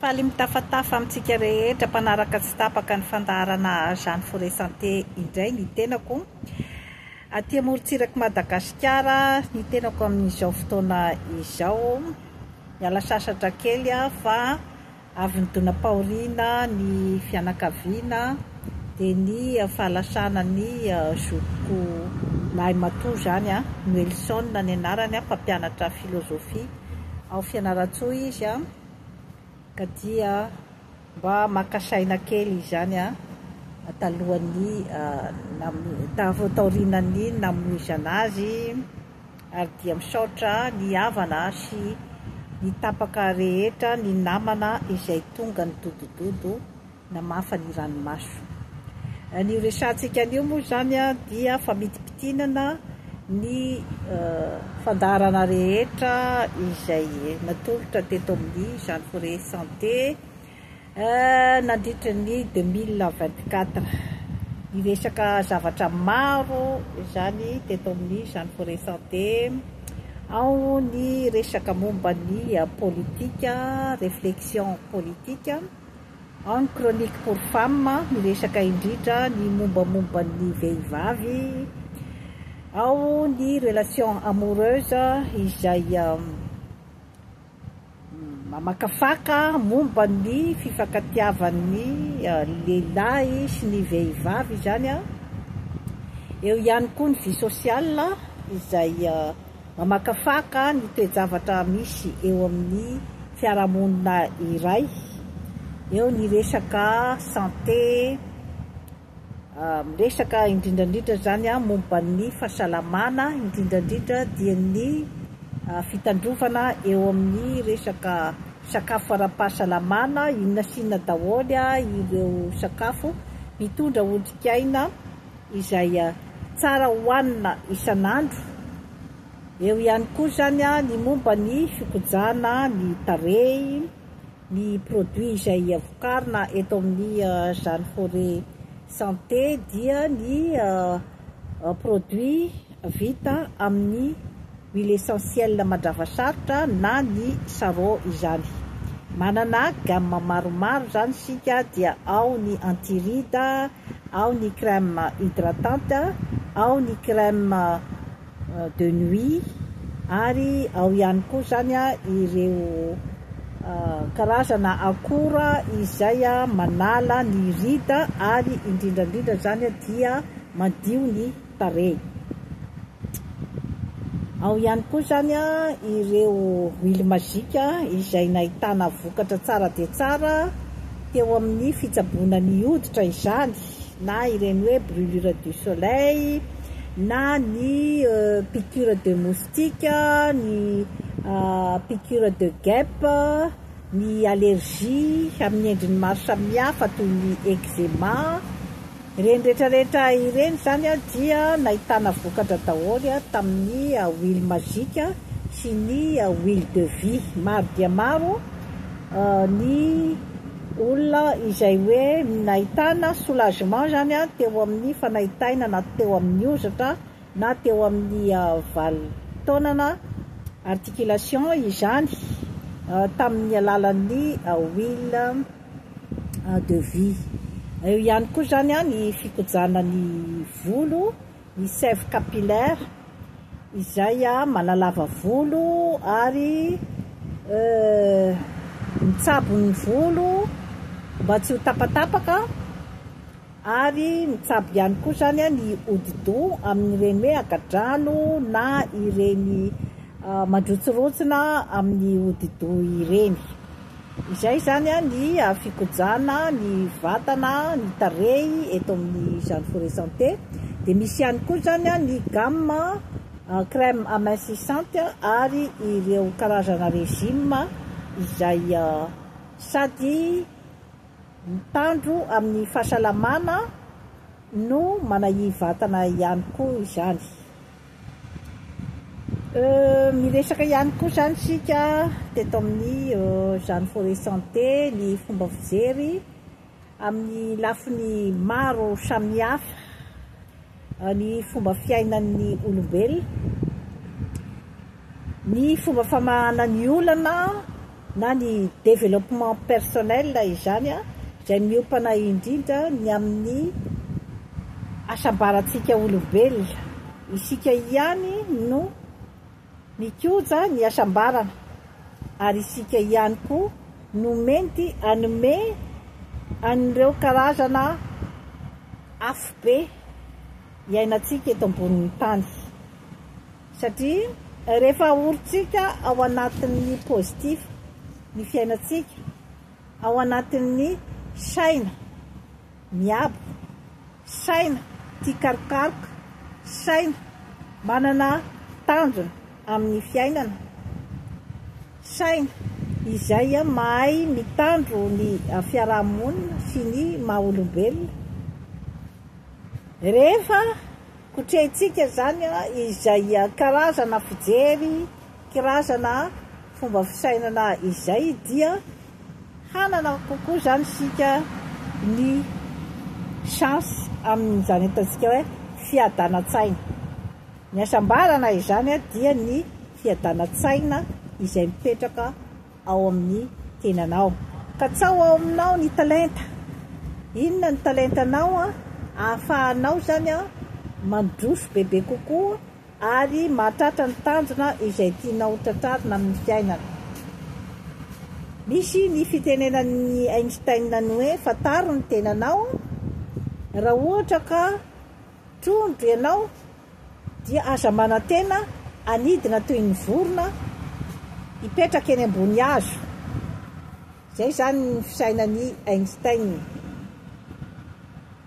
Faly mitafatafa amintsika rehetra mpanaraka tsy tapaka ny fandaharana Jeanne Foret Santé indray ny tenako aty amorontsirak'i Madagasikara, ny tenako amin'izao fotoana izao. Miala sasatra kely aho fa avy nidonam-pahoriana ny fianakaviana dia ny fahalasana ny zokiko lahimatoa izany, Noelson ny anarany, mpampianatra filozofia ao Fianarantsoa izy. Ka dia mba maka saina kely izany talohan'ny vao taorianan'ny namoizana azy ary dia misaotra ny havana sy ny tapaka rehetra ny namana izay tonga nidodododo namafa ny ranomaso. Ny horesahantsika anio moa izany dia famitimpitinana ny fandaharana rehetra izay natolotra teto amin'ny Jean Foret Santé nandritra ny deux mille vingt quatre. Niresaka zavatra maro izany teto amin'ny Jean Foret Santé, ao ny resaka momba ny politika, réflexion politique, Any Chronique pour femmes miresaka indrindra ny mombamomba ny vehivavy ao ny relation amoureuse izay mamakafaka momba ny fifankatiavan'ny lehilahy sy ny vehivavy izany, eo ihany koa ny vie sociale izay. Mamakafaka ny toe-javatra misy eo amin'ny fiarahamonina iray, eo ny resaka santé, miresaka indrindra indrindra izany momba ny fahasalamana, indrindra indrindra dia ny fitandrovana eo amin'ny resaka sakafo ara-pahasalamana, inona sy inona daholo ireo sakafo mitondra otrikaina. izay tsara hohanina isan'andro, eo ihany koa izany ny momba ny fikojana ny tarehy, ny produit izay vokarina eto amin'ny Jeanne Forêt Santé dia ny produit vita amin'ny. Ny l'essentiel mandrava sarotra na ny sarrau izany. Manana gamme maromaro izany isika dia ao ny anti-ride, ao ny crème hydratante, ao ny crème de nuit ary ao ihany koa izany ireo karazana akora izay manala ny ride ary indrindra indrindra izany dia madio ny tarehy. Ao ihany koa izany ireo huile magique izay nahitana vokatra tsara dia tsara teo amin'ny fitsaboana ny hoditra izany na ireny hoe brûlure du soleil na ny euh, piqûre de moustique, ny euh, piqûre de guêpe, ny allergie amin'ny endriny maro samihafa toy ny eczema. Ireny rehetra rehetra ireny izany dia nahitana vokatra daholo tamin'ny huile magique sy ny huile de vie. Maro dia maro ny olona izay hoe nahitana soulagement izany teo amin'ny fanaitaina na teo amin'ny hozatra na teo amin'ny valo taonana, articulation, izany tamin'ny alalan'ny huile. de vie. Eo ihany koa izany an ny fikojana ny volo, ny sève capillaire izay manalava volo ary mitsabo ny volo mba tsy ho tapatapaka. Ary mitsabo ihany koa izany ny hodi-doha amin'ireny hoe haka-drano na ireny mandrotsirontsina amin'ny hodi-doha ireny. Izay izany ny fikojana ny vatana, ny tarehy eto amin'ny Jeanne Forêt Santé. Dia misy ihany koa izany ny gamme crème amincissante ary ireo karazana régime izay sady Mitandro amin'ny fahasalamana no manahia vatana ihany koa izany. Miresaka ihany koa izany isika teto amin'ny Jeanne Forest Santé ny fomba fijery amin'ny lafiny maro samihafa. ny fomba fiainan'ny olombelona, ny fomba famahana ny olana na ny développement personnel izany an, izay miompana indrindra ny amin'ny hasambarantsika olombelona, isika ihany no. Mikoja ny hasambarana ary isika ihany koa no mety hanome an'ireo karazana afobe iainantsika eto ambonin'ny tany satria rehefa ahorintsika ao anatin'ny positif ny fiainantsika, ao anatin'ny saina. Miaboko. Saina tia karokaroka. Saina manana tanjona amin'ny fiainana. Saina izay mahay mitandro ny fiaraha-monina sy ny maha olombelona. Rehefa kotrehintsika izany izay karazana fijery. Kirazana fomba fisainana izay dia hanana kokoa izany isika ny chance amin'izany ataontsika hoe fiadanan-tsaina. Ny hasambarana izany dia ny fiadanan-tsaina izay mipetraka ao amin'ny tenanao. Katsaho ao aminao ny talenta. Inona ny talentanao ahafahanao izany mandroso bebe kokoa. Ary mahatratra ny tanjona izay tianao ho tratrarina amin'ny fiainana. Misy ny fitenenan'i Einstein ny hoe fantaro ny tenanao, raha ohatra ka trondro ianao dia aza manantena hanidina toy ny vorona hipetraka eny ambony hazo. Izay izany ny fisainan'i Einstein.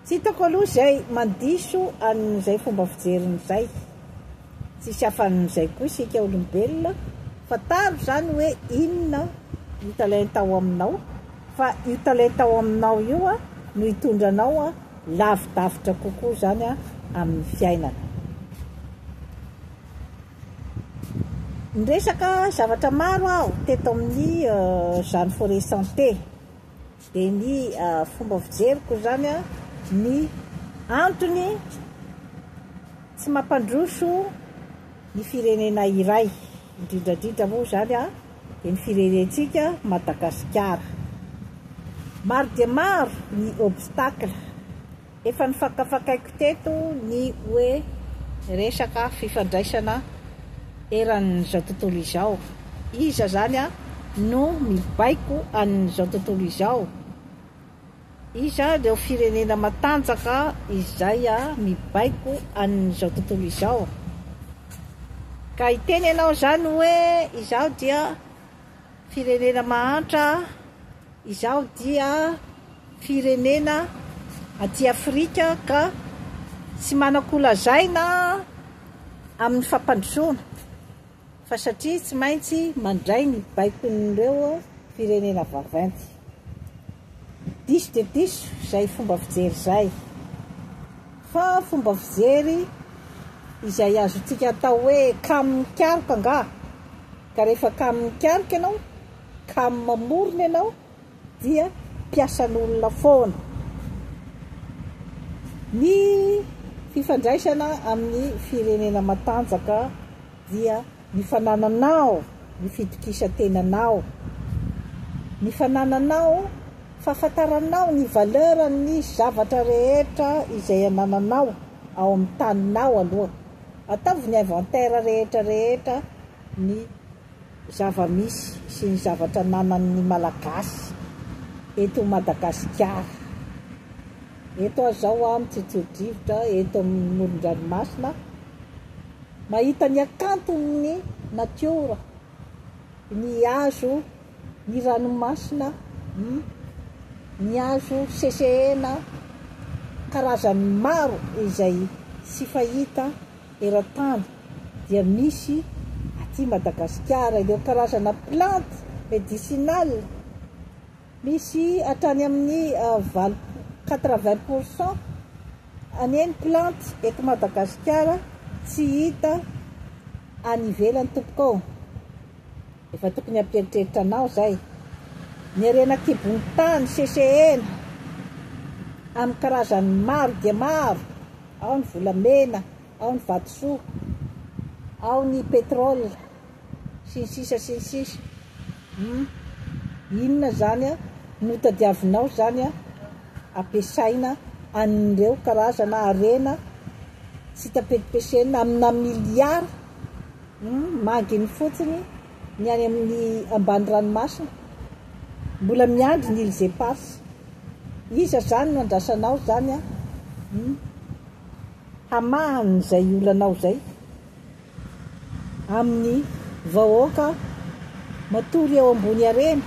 Tsy hitako aloha izay mandiso an'izay fomba fijeriny izay. Tsisy afan'izay koa isika olombelona, fantaro izany hoe inona io talenta ao aminao, fa io talenta ao aminao io no hitondra anao lavidavitra kokoa izany amin'ny fiainana. Niresaka zavatra maro aho teto amin'izany Forêt Santé. Dia ny fomba fijeriko izany an, ny antony tsy mampandroso ny firenena iray, indrindra indrindra moa izany an, dia ny firenentsika Madagasikara. Maro dia maro ny obstacle Efa nofakafakaiko teto ny hoe resaka fifandraisana eran'izao tontolo izao. Iza izany no mibaiko an'izao tontolo izao? Iza ireo firenena matanjaka izay mibaiko an'izao tontolo izao? Ka hiteny ianao izany hoe izaho dia Firenena mahantra izao dia firenena aty Afrika ka tsy manan-ko lazaina amin'ny fampandrosoana fa satria tsy maintsy mandray ny baikon'ireo firenena vaventy. Diso dia diso izay fomba fijery izay fa fomba fijery izay azontsika atao hoe kamokaroka angaha? Ka rehefa kamo mikarika ianao, kamo mamorona ianao dia mpiasan'olona foana. Ny fifandraisana amin'ny firenena matanjaka dia ny fanananao ny fitokisan-tenanao, ny fanananao fahafantaranao ny valeuran'ny zavatra rehetra izay anananao ao amin'ny taninao aloha Ataovy ny inventaire rehetra rehetra ny zava-misy sy ny zavatra ananan' ny Malagasy eto Madagasikara. Eto aho izao an, mitsitsirodrivotra eto amin' ny moron-dranomasina, mahita ny hakanton' ny natiora, ny hazo. ny ranomasina a, ny azo sesehena karazany maro izay tsy fahita eran-tany dia misy aty Madagasikara, ireo karazana plantes médicinales misy hatrany amin'ny valo, quatre vingt pour cent anie ny plantes eto Madagasikara tsy hita any ivelany tompoko ô. Efa tokony hampieritreritra anao izay. Ny harena an-kibon'ny tany sesehena amin'ny karazany maro dia maro, ao ny volamena, ao ny vatosoa, ao ny pétrole, sy ny sisa sy ny sisa. Hum. Inona izany no tadiavinao izany hampiasaina an'ireo karazana harena tsy tapetipesena amina miliara? Manginy fotsiny ny any amin'ny ambany ranomasina, mbola miandry ny îles éparses. Iza zany no andrasanao zany an? Hamahany izay olanao izay amin'ny vahoaka matory eo ambony harena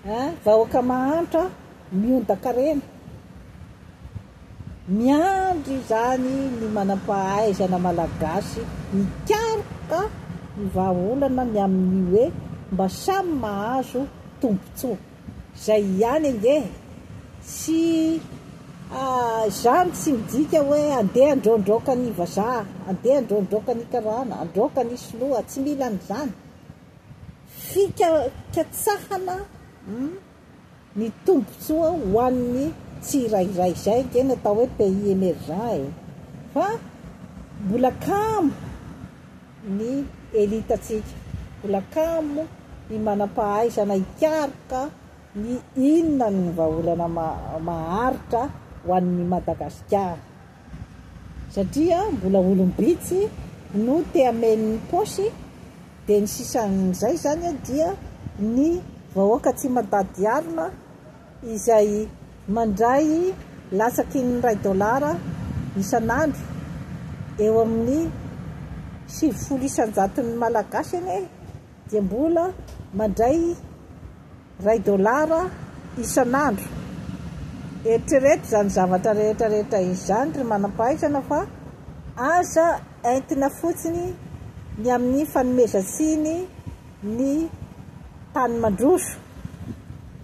an! Vahoaka mahantra miondaka harena. Miandry izany ny manam-pahaizana malagasy hikaroka ny vahaolana ny amin'ny hoe mba samy mahazo tombontsoa. Izay ihany ange e! Tsy izany tsy midika hoe andeha andraondraoka ny vazaha, andeha andraondraoka ny karana, andraoka ny sinoa, tsy mila an'izany. Fika katsahana. ny tombotsoa ho an'ny tsirairay izay ange no atao hoe pays emergent e! fa mbola kamo ny elite-ntsika, mbola kamo ny manam-pahaizana hikaroka ny inona no vahaolana maharitra ho an'ny Madagasikara. Satria mbola olom-bitsy no te hameno ny paosy dia ny sisan'izay zany dia ny vahoaka tsy mandady alina izay mandray latsaky ny iray dolara isan'andro eo amin'ny sivifolo isan-jaton'ny malagasy anie dia mbola mandray Iray dolara isan'andro. Eritrereto izany zavatra rehetra rehetra izany ry manam-pahaizana fa aza entina fotsiny ny amin'ny fanomezan-tsiny ny tany mandroso.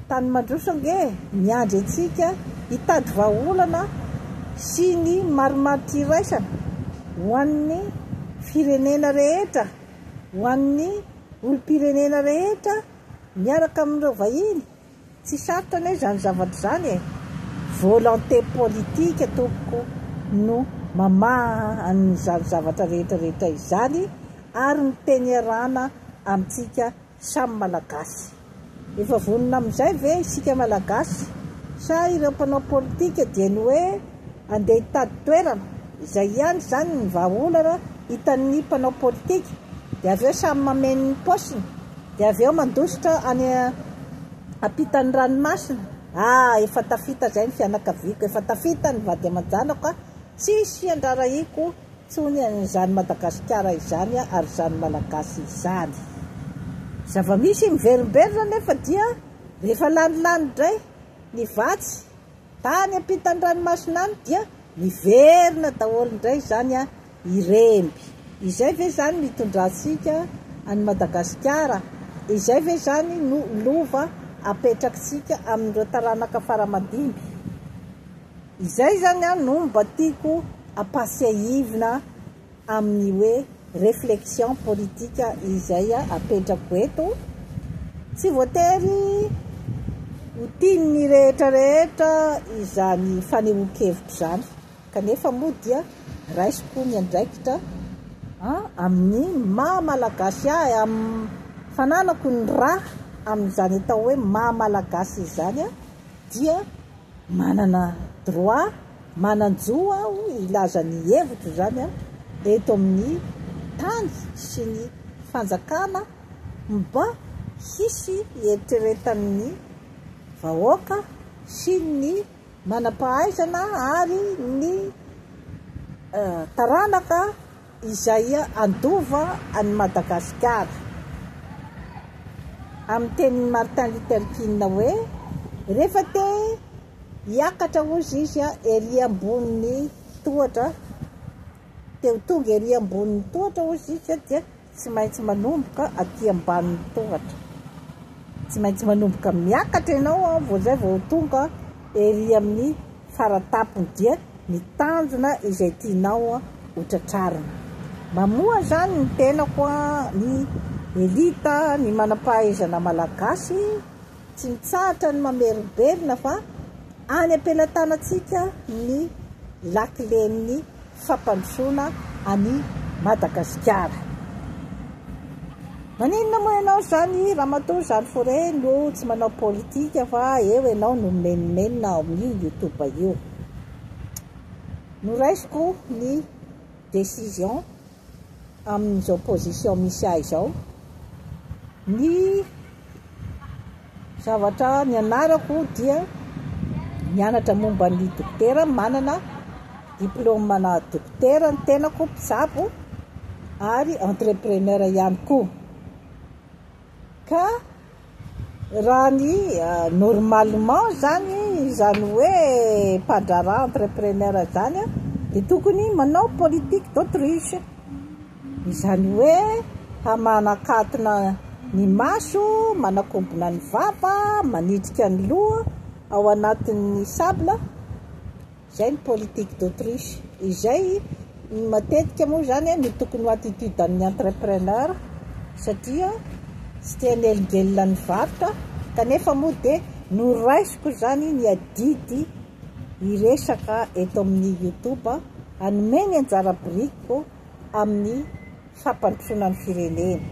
Tany mandroso ange miandry antsika hitady vahaolana sy ny marimaritra iraisana ho an'ny firenena rehetra, ho an'ny olom-pirenena rehetra. Miaraka amin'ireo vahiny? Tsy sarotra anie izany zavatra izany e! Volonté politique tompoko no mamaha an'izany zavatra rehetra rehetra izany ary miteny iarahana amintsika samy Malagasy. Efa vonona amin'izay ve isika Malagasy? Sa ireo mpanao politika dia ny hoe andeha hitady toerana? Izay ihany izany ny vahaolana hitan'ny mpanao politika dia avy eo samy mameno ny paosiny. Dia avy eo mandositra any ampitan'ny ranomasina. Ah! Efa tafita izay ny fianakaviako, efa tafita ny vady aman-janako a! Tsisy iandrarahiko intsony an'izany Madagasikara izany ary izany Malagasy izany. Zava-misy miverimberina anefa dia rehefa lany lany indray ny vatsy tany ampitan'ny ranomasina any dia miverina daholo indray izany a! Iremby. Izay ve zany no itondrantsika an'i Madagasikara? Izay ve zany no lova apetrakitsika amin'ireo taranaka faramadimby? Izay zany an no mba tiako ampatsiahivina amin'ny hoe reflexion politika izay apetrako eto. Tsy voatery ho tian'ny rehetra rehetra izany fanehoan-kevitro izany. Kanefa moa dia raisiko ny andraikitra amin'ny maha Malagasy ahy, amin'ny fananako ny rà amin'izany atao hoe maha Malagasy izany dia manana droit, manan-jo aho hilaza ny hevitro izany eto amin'ny tany sy ny fanjakana mba hisy hieritreretan'ny vahoaka sy ny Manam-pahaizana ary ny taranaka izay handova an'i Madagasikara. Amin'ny tenin'i Martin Luther King hoe, rehefa te hiakatra hozy izy ery ambonin'ny tohatra, te ho tonga ery ambonin'ny tohatra hozy izy dia Tsy maintsy manomboka aty ambanin'ny tohatra. Tsy maintsy manomboka miakatra ianao an, vao izay vao tonga ery amin'ny faratampony dia ny tanjona izay tianao ho tratrarina. Mamoha izany ny tenako an, ny elite, ny manam-pahaizana malagasy tsy mitsahatra ny mamerim-belona fa any am-pelatanantsika ny lakilen'ny. fampandrosoana an'i Madagasikara. Maninona moa ianao izany ramatoa jeanne Foré no tsy manao politika fa eo ianao no mimenomenona ao amin'io youtube io. Noraisiko ny décision amin'izao position misy ahy izao ny Zavatra nianarako dia nianatra momba ny dokotera, manana diplaoma-na dokotera ny tenako, mpitsabo ary entrepreneur ihany koa. Ka raha ny normalement zany izany hoe mpandraharaha, entrepreneur zany dia tokony manao politique d'autruche. Izany hoe hamanakatona ny maso, manakombona ny vava, manitrika ny loha ao anatin'ny sable, izay ny politique d'Autriche. Izay matetika moa izany no tokony ho attitude an'ny entrepreneur satria tsy te hanelingelina ny varotra kanefa moa dia noraisiko izany ny adidy hiresaka eto amin'ny youtube hanome ny anjara birikiko amin'ny fampandrosoana ny firenena.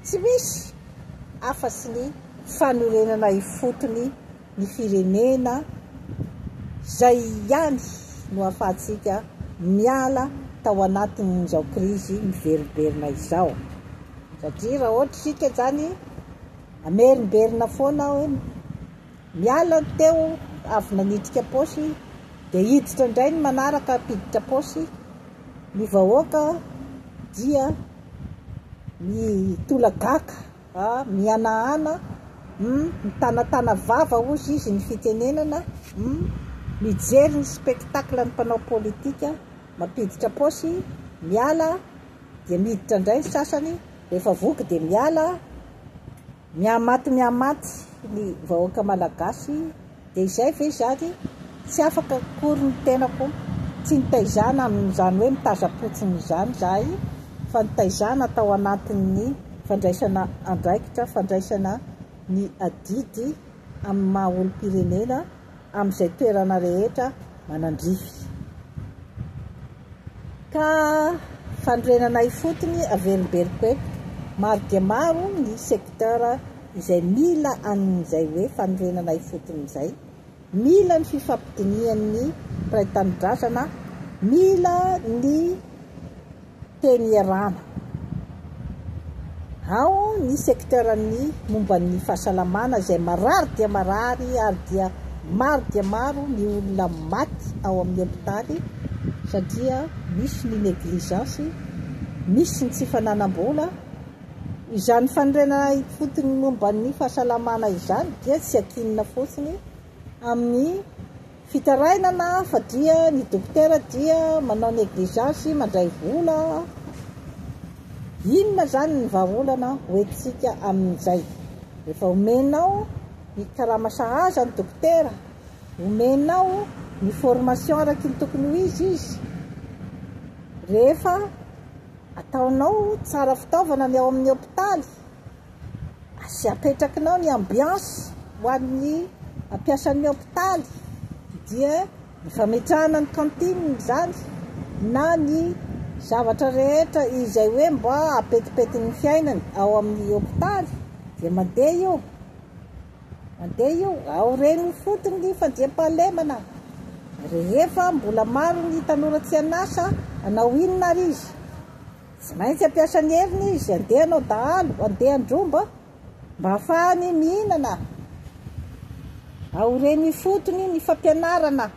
Tsy misy afa-tsy ny fanorenana ifotony ny firenena, izay ihany no ahafahantsika miala tao anatin'izao krizy miverimberina izao. Satria raha ohatra isika izany, hamerimberina foana ao. Miala ny teo avy nanidika paosy dia hiditra indray ny manaraka hampiditra paosy, ny vahoaka dia mitolagaka, mihanahana, mitanatana vava hozy izy ny fitenenana, mijery ny spectacle ny mpanao politika mampiditra paosy, miala dia miditra indray ny sasany, rehefa voky dia miala. Mihamaty mihamaty ny vahoaka malagasy dia izay ve izany? Tsy afaka akory ny tenako, tsy nitaizana amin'izany hoe mitazam-potsiny izany izahay fa nitaizana tao anatin'ny fandraisana andraikitra, fandraisana ny adidy amin'ny maha olom-pirenena amin'izay toerana rehetra manandrify, ka fanorenana ifotony avelombeloka eto. Maro dia maro ny secteur izay mila an'izay hoe fanorenana ifotony izay, mila ny fifampidinihan'ny mpiray tanindrazana, mila ny teny Ierana. Ao ny secteur ny momba ny fahasalamana izay marary dia marary ary dia maro dia maro ny olona maty ao amin'ny hopitaly satria misy ny negligence, misy ny tsy fananam-bola. Izany fanorenana ifotony momba ny fahasalamana izany dia tsy ankinina fotsiny amin'ny. Fitarainana fa dia ny dokotera dia manao negligeance mandray vola, inona zany ny vahaolana ho entintsika amin'izay? Rehefa omenao ny karama sahaza ny dokotera, omenao ny formation araky ny tokony ho izy izy, rehefa ataonao tsara fitaovana ny ao amin'ny hopitaly, Aza apetrakinao ny ambiance ho an'ny mpiasan'ny hopitaly dia ny fametrahana ny cantine izany na ny zavatra rehetra izay hoe mba apetipetin'ny fiainany ao amin'ny hopitaly dia mandeha io mandeha io ao reny fotony ny fandriampahalemana rehefa mbola maro ny tanora tsy an'asa anao inona ary izy Tsy maintsy hampiasa ny heriny izy handeha hanao dahalo, handeha handromba mba hahafahany mihinana. Aoriany ifotony ny fampianarana.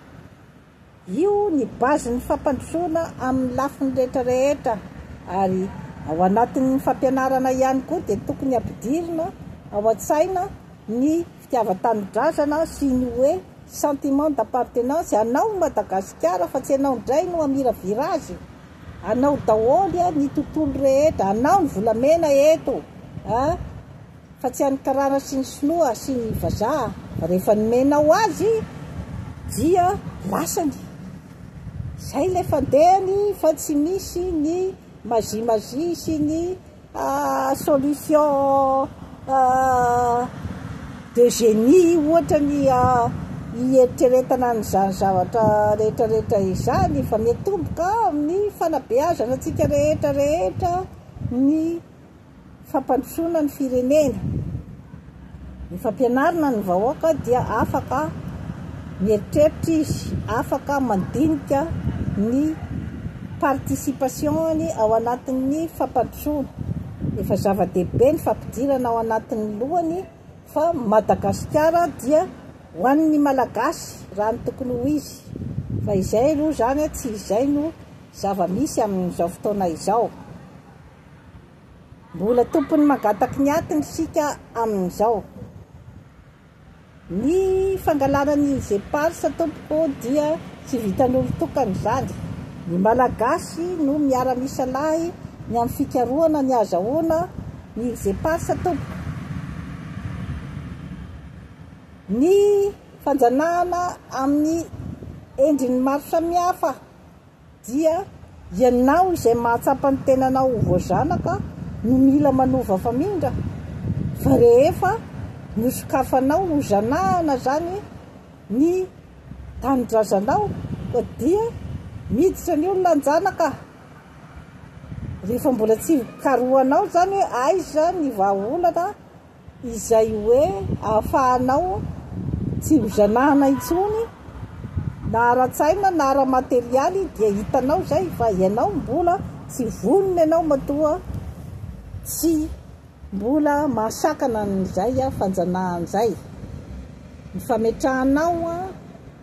Io ny base ny fampandrosoana amin'ny lafiny rehetra rehetra ary ao anatin'ny fampianarana ihany koa dia tokony hampidirina ao an-tsaina ny fitiavan-tanindrazana sy ny hoe sentiment d'appartenance anao i Madagasikara fa tsy ianao indray no hamiravira azy. Anao daholo e ny tontolo rehetra, anao ny volamena eto a! Fa tsy an'ny karana sy ny sinoa sy ny vazaha, rehefa nomenao azy dia lasany. Zay le fandehany fa tsy misy ny mazimazia sy ny Solution de génie ohatra ny hieritreretana an'izany zavatra rehetrarehetra izany fa mety tomboka amin'ny fanabeazana antsika rehetrarehetra ny fampandrosoana ny firenena. Ny fampianarana ny vahoaka dia afaka mieritreritra izy, afaka mandinika ny participation-ny ao anatin'ny fampandrosoana. Efa zava-dehibe ny fampidirana ao anatin'ny lohany fa Madagasikara dia ho an'ny Malagasy raha ny tokony ho izy. Fa izay aloha izany tsy izay no zava-misy amin'izao fotoana izao. Mbola tompon'ny magataky ny atiny isika amin'izao. Ny fangalana ny Ingeparc tompoko dia tsy vitan'olon-tokana izany. Ny Malagasy no miara-misalahy ny amin'ny fikarohana ny hazahoana ny Ingeparc tompoko. Ny fanjanahana amin'ny endriny maro samihafa. Dia ianao izay mahatsapa ny tenanao ho voazanaka no mila manova famindra fa rehefa nosokafanao ho zanahana zany ny tanindrazanao dia miditra ny olona hanjanaka rehefa mbola tsy karohanao zany hoe aiza ny vahaolana izay hoe ahafahanao tsy hozanahana intsony na ara-tsaina na ara-materialy dia hitanao izay fa ianao mbola tsy vonona ianao matoa tsy mbola mahasakana an'izay fanjanahana izay ny fametrahanao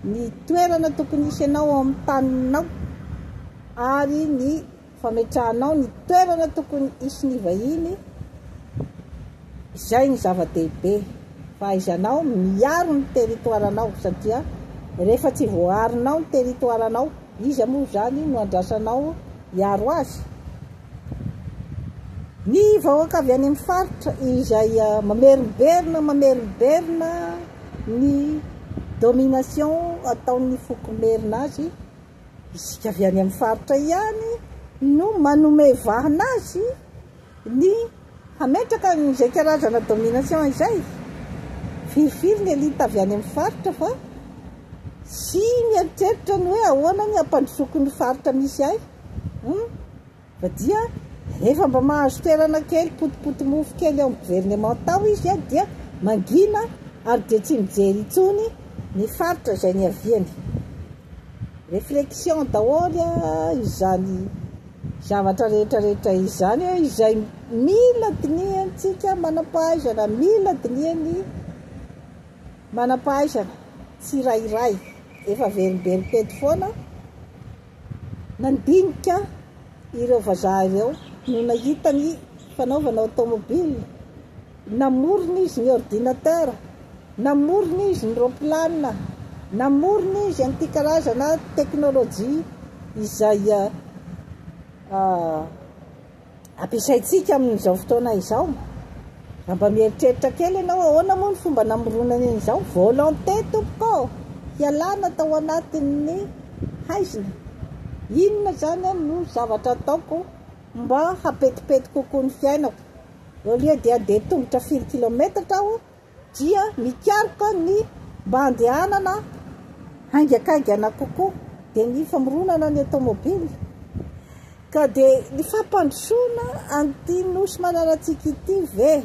ny toerana tokony hisy anao amin'ny taninao ary ny fametrahanao ny toerana tokony hisy ny vahiny, izay no zava-dehibe, fahaizanao miaro ny territoire-nao, satria rehefa tsy voaarinao ny territoire-nao, iza moa izany no andrasanao hiaro azy? Ny vahoaka avy any amin'ny faritra izay mamerimberina, mamerimberina ny domination ataon'ny foko merina azy, Isika avy any amin'ny faritra ihany no manome vahana azy ny hametraka an'izay karazana domination izay. Firifiry ny elite avy any amin'ny faritra fa tsy mieritreritra ny hoe ahoana ny hampandrosoako ny faritra misy ahy. Fa dia rehefa mba mahazo toerana kely, potipoty mofo kely ao amin'ny governemanta ao izy dia mangina ary dia tsy mijery intsony ny faritra izay niaviany. Réflexion daholo izany zavatra rehetra rehetra izany izay mila dinihantsika manam-pahaizana, mila dinihan'ny manam-pahaizana tsirairay. Efa verimbery teto foana. Nandinika ireo vazaha ireo no nahita ny fanaovana automobile, namorona izy ny ordinateur, namorona izy ny roapilanina, namorona izy an'ity karazana teknolojia izay ampiasaintsika amin'izao fotoana izao. Raha mba mieritreritra kely ianao, ahoana moa ny fomba namoronany an'izao? Volonté, tompoko, hialana tao anatin'ny haizina. Inona izany no zavatra ataoko mba hampetipety kokoa ny fiainako? Au lieu dia handeha tongotra firy kilaometatra aho, dia mikaroka ny mba handehanana haingakaingana kokoa, dia ny famoronana ny automobile, ka dia ny fampandrosoana an'ity nosy mananantsika ity ve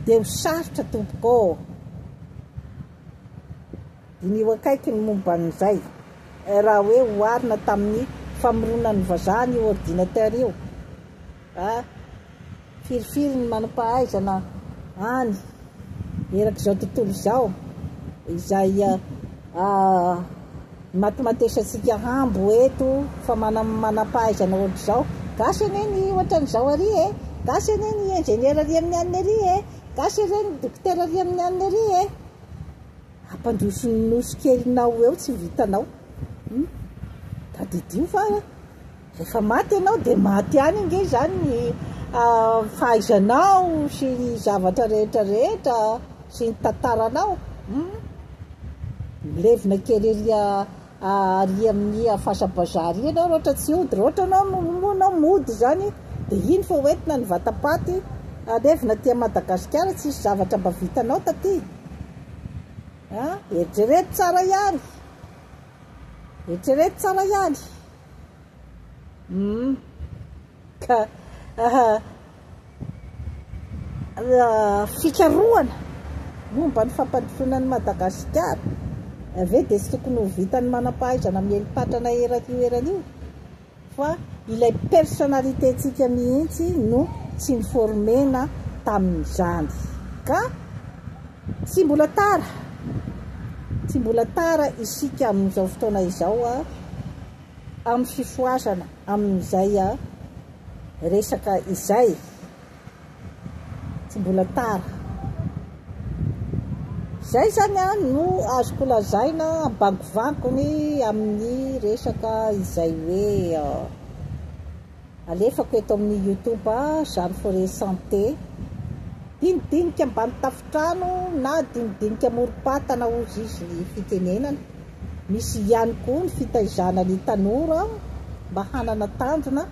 dia ho sarotra tompoko ô! Diniho akaiky ny momba an'izay, raha hoe oharina tamin'ny famoronan'ny vazaha ny ordinateur io, a! Firifiry ny manam-pahaizana any erak'izao tontolo izao izay matimatesantsika hambo eto fa manam-pahaizana ohatr'izao? Gasy anie ny ohatran'izao ary e! Gasy anie ny ingénieur ary amin'ny aniny ary e! Gasy anie ny docteur ary amin'ny aniny ary e! Ampandroso ny nosy kelinao eo tsy vitanao hum tadidio fa rehefa maty ianao dia maty any ange izany ny ah, fahaizanao sy ny zavatra rehetra rehetra sy ny tantaranao hum milevina kely ery ah, Ary amin'ny hafasam-bazaha ary ianao raotra tsy hody, raotra ianao no moa ianao mody izany dia iny fa ho entina ny vatam-paty alevina aty Madagasikara, tsisy zavatra mba vitanao taty an! eritrereto tsara ihany, eritrereto tsara ihany, hum ka. fikarohana momba ny fampandrosoana an'i Madagasikara ve dia tsy tokony ho vitan'ny manam-pahaizana miely patrana eran'io eran'io fa ilay personnalité-ntsika mihitsy no tsy ni-former-na tamin'izany ka tsy mbola tara tsy mbola tara isika amin'izao fotoana izao amin'ny fifohazana amin'izay resaka izay, tsy mbola tara. Izay izany no azoko lazaina ambangovangony amin'ny resaka izay hoe alefako eto amin'ny YouTube Jeanne Forest Santé. Dinidinika ambany tafontrano na dinidinika amorom-patana hozy izy ny fitenenana. Misy ihany koa ny fitaizana ny tanora mba hanana tanjona.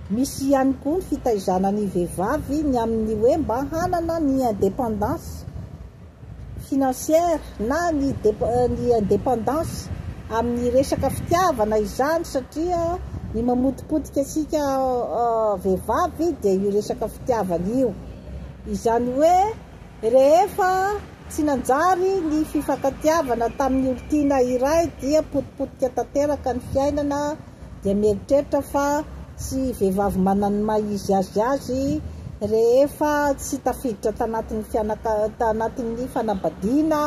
Misy ihany koa ny fitaizana ny vehivavy ny amin'ny hoe mba hanana ny indépendance financière na ny ny indépendance amin'ny resaka fitiavana izany satria ny mamotipotika antsika vehivavy dia io resaka fitiavana io. Izany hoe. Rehefa tsy nanjary ny fifankatiavana tamin'ny olon-tiana iray dia potipotika tanteraka ny fiainana dia mieritreritra fa tsy vehivavy manan'ny maha izy azy azy rehefa tsy tafiditra tanatin'ny fianaka tanatin'ny fanambadiana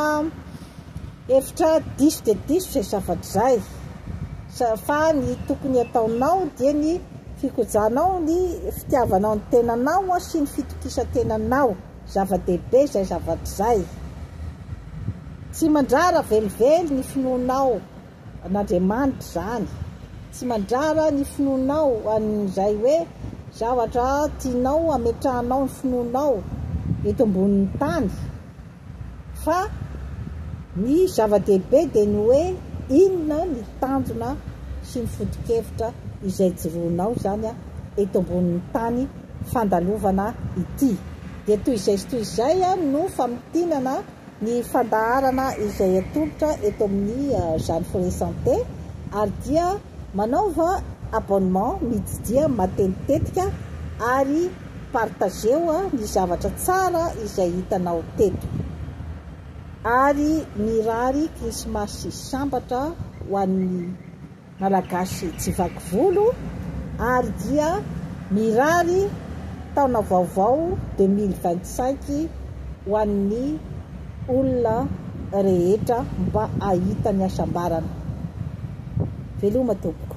Hevitra diso dia diso izay zavatra izay, fa ny tokony hataonao dia ny fikojahanao ny fitiavanao ny tenanao sy ny fitokisan-tenanao, zava-dehibe izay zavatra izay. Tsy mandrara velively ny finoanao an'Andriamanitra izany, tsy mandrara ny finoanao an'izay hoe zavatra tianao hametrahanao ny finoanao eto ambonin'ny tany, Fa ny zava-dehibe dia ny hoe inona ny tanjona sy ny foto-kevitra izay joroanao izany eto ambonin'ny tany fandalovana ity. Dia toy izay sy toy izay no famintinana ny fandaharana izay atolotra eto amin'ny Jeanne Foret Santé ary dia. Manaova abonnement mididia matetitetika ary partageo ny zavatra tsara izay hitanao teto ary mirary krismasy sambatra ho an'ny malagasy tsy vaky volo ary dia mirary taona vaovao deux mille vingt cinq ho an'ny olona rehetra mba hahita ny hasambarana. Veloma tompoko.